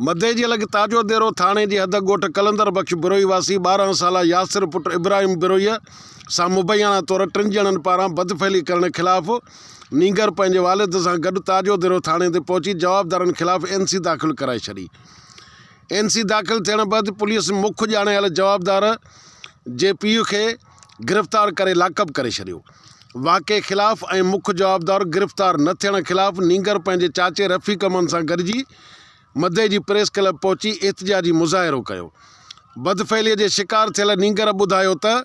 مدئي جي لڳ تاجو ديرو ٿاڻي جي حد ڳوٺ قلندر بخش بروهي واسي ٻارهن سالا ياسر پٽ ابراهيم بروهيء سان مبينا طور ٽن ڄڻن پاران بدفعلي ڪرڻ خلاف نينگر پنهنجي والد سان گڏ تاجو ديرو ٿاڻي تي پهچي جوابدارن خلاف اين سي داخل ڪرائي ڇڏي. اين سي داخل ٿيڻ بعد پوليس مک ڄاڻايل جوابدار جي پيء کي گرفتار ڪري لاڪ اپ ڪري ڇڏيو. واقعي خلاف ۽ مک جوابدار گرفتار نه ٿيڻ خلاف نينگر پنهنجي چاچي رفيق امان سان گڏجي مدئي جي پريس ڪلب پهچي احتجاجي مظاهرو ڪيو. بدفعليء جي شڪار ٿيل نينگر ٻڌايو ته،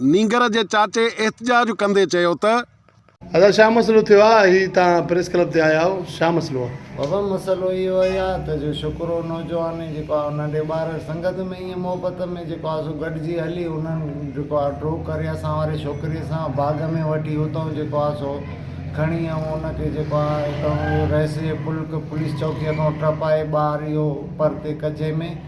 نينگر جي چاچي احتجاج ڪندي چيو ته. ادا شا مسئلو ٿيو آ هي تان پريس ڪلب تي آيا آهو شا مسئلو آ. بابا مسئلو اهو اهي آ ته جو شڪرو نوجواني جيڪو آ هن ننڍي ٻار سنگت ۾ ائين محبت ۾ جيڪو آ سو گڏجي هلي انهن جيڪو آ ڊرو ڪري اسان واري ڇوڪري سان باغ ۾ وٺي اتئون جيڪو آ سو کڻي ائون ان کي جيڪو آ اتئون رهسي پلڪ پوليس چوڪي کان ٽپائي ٻار اهو پرتي ڪچي ۾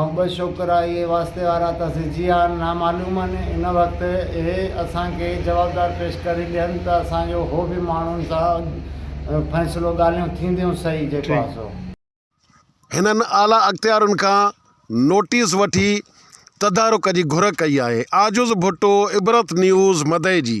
۽ ٻه ڇوڪرا اهي واسطي وارا ته سجي آن نامعلوم آن ان وقت اهي اسان کي جوابدار پيش ڪري ڏين ته اسان جو هو به ماڻهن سان فيصلو ڳالهيون ٿينديون سهي جيڪو آ سو. هنن اعليٰ اختيارين کان نوٽيس وٺي تدارڪ جي گهر ڪئي آهي. عاجز ڀٽو عبرت نيوز مدئجي.